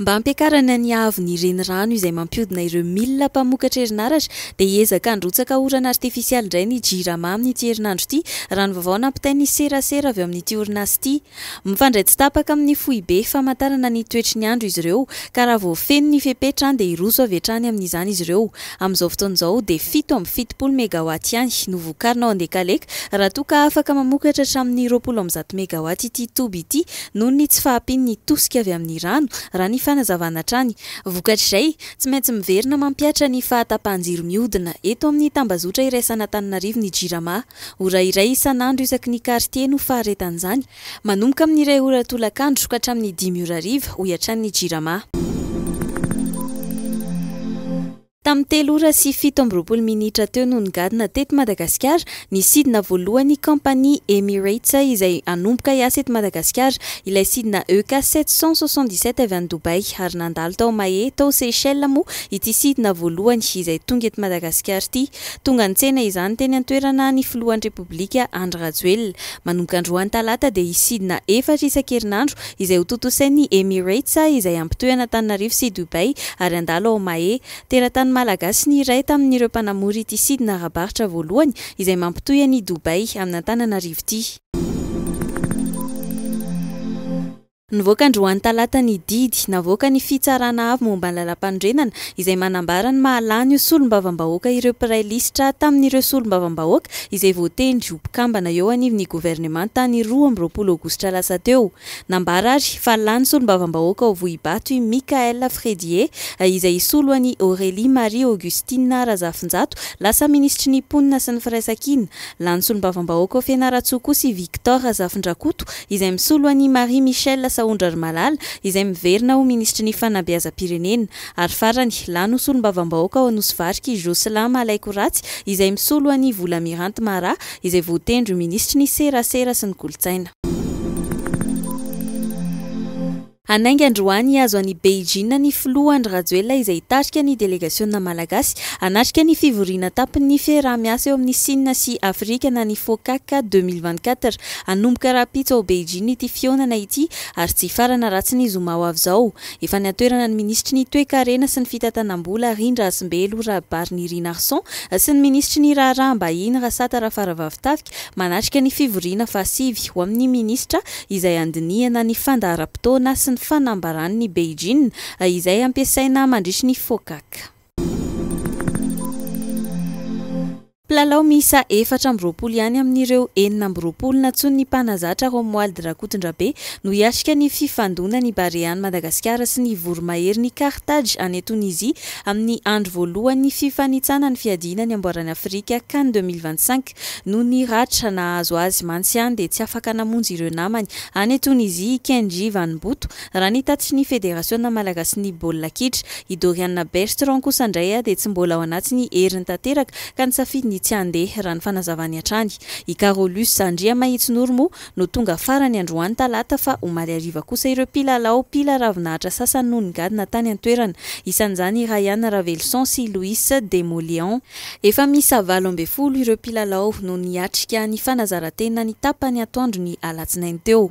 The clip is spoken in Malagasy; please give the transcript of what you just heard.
Mba hampiakarana ny haavon'ny renirano izay mampiodina ireo milina mpamokatra herinaratra dia hiezaka handrotsaka orana artifisialy indray ny Jirama amin'ity herinandro ity, raha ny vaovao nampitain'ny serasera avy ao amin'ity orinasa ity. Mifandray tsy tapaka amin'ny foibe famantarana ny toetry ny andro izy ireo ka raha vao feno ny fepetra dia hiroso avy hatrany amin'izany izy ireo. Amin'izao fotoana izao dia fito amby fitopolo megawatts ihany no vokarina ao Andekaleka raha toa ka afaka mamokatra hatramin'ny roapolo amby zato megawatts ity toby ity noho ny tsy fahampian'ny tosika avy amin'ny rano, raha ny fanazavana hatrany. Vokatr'izay, tsy maintsy miverina mampihatra ny fahatapahan-jiro mihodina eto amin'ny tambazotra iraisan'Antananarivo ny Jirama. Ora iray isan'andro isaky ny kartie no faharetan'izany, manomboka amin'ny iray ora tolakandro ka hatramin'ny dimy ora hariva, hoy hatrany ny Jirama. Tamin'ny telo ora sy fito amby roapolo minitra teo no nigadona teto Madagasikara ny sidina voalohan'ny kaompania Emirates izay hanomboka hiasa eto Madagasikara, ilay sidina EK sept cent soixante-dix-sept avy any Dubaï, ary nandalo tao Mahé, tao Seychelles moa ity sidina voalohany izay tonga eto Madagasikara ity. Tonga nitsena izany teny an-toerana ny filohan'ny Repoblika Andry Rajoelina. Manomboka androany talata dia hisidina efatra isan-kerinandro izay ho tontosain'ny Emirates izay hampitohy an'Antananarivo sy Dubaï ary handalo ao Mahé. Teratany malagasy ny iray tamin'ireo mpanamory ity sidina ara-barotra voalohany izay mampitohy an'i Dubaï amin'Antananarivo ity. Nivoaka androany talata ny didy navoakan'ny Fitsarana avo momba ny Lalàmpanorenana izay manambara ny maha lany ho solombavambahoaka ireo mpiray lisitra tamin'ireo solombavambahoaka izay voatendry ho mpikambana eo anivon'ny governemanta ny roa amby roapolo aogositra lasa teo. Nambara ary fa lany solombavambahoaka ao Vohibato i Michaël Fredie, izay hisolo an'i Aurélie Marie Augustine Razafinjato lasa minisitry ny Mponina sy ny Firaisankina. Lany solombavambahoaka ao Fianarantsoa kosa i Victor Razafindrakoto, izay misolo an'i Marie Michelle Sahondrarimalala, izay miverina ho minisitry ny Fanabeazam-pirenena. Ary farany, lany ho solombavambahoaka ao Anosivarika i Jocelyn Malaikoratsy izay misolo an'i Volamiranty Mara izay voatendry ho minisitry ny Serasera sy ny Kolontsaina. Hanainga androany hihazo any Beijing ny filoha Andry Rajoelina izay hitarika ny delegasiona malagasy hanatrika ny fivoriana an-tampon'ny fiaraha-miasa eo amin'ny Sina sy Afrika na ny FOCAC deux mille vingt-quatre. Hanomboka rahampitso ao Beijing ity fihaonana ity ary tsy hifarana raha tsy ny zoma ho avy izao. Efa niatoerana ny minisitry ny Toekarena sy ny fitantanam-bola, Rindra Hasimbelo, Rabary Nirinarison, sy ny minisitry ny Raharaham-bahiny, Rasata Rafaravavitafika, manatrika ny fivoriana fahasivy ho amin'ny minisitra izay handinihana ny fandaharam-potoana sy ny fanambaran'ny Beijing izay hampiasaina mandritry ny Focac. Mpilalao miisa efatra amby roapolo ihany amin'ireo enina amby roapolo nantsoin'ny mpanazatra Romuald Rakotondrabe no hiatrika ny fifandonan'ny Barean'i Madagasikara sy ny voromahery-n'i Carthage any Tonizia amin'ny andro voalohan'ny fifanitsana ny fiadiana ny amboaran'i Afrika Can deux mille vingt-cinq. Noho ny ratra nahazo azy mantsy ihany dia tsy afaka namonjy ireo namany any Tonizia i Kendji Vanimboto Raha ny tatitrin'ny Federasiona malagasin'ny baolina kitra, i Doriana Bertrand kosa indray dia tsy mbola ao anatin'ny heriny tanteraka ka nisafidy ny tsy handeha, raha ny fanazavany hatrany. I Carolus Andriamahitsinoro moa no tonga farany androany talata fa omaly hariva kosa ireo mpilalao mpila ravinahitra sasany no nigadona tany an-toerana. Isan'izany i Ryan Raveloson sy Louis Demoléon. Efa miisa valo ambin'ny folo ireo mpilalao no niatrika ny fanazaran-tena ny tapany atoandro ny alatsinainy teo.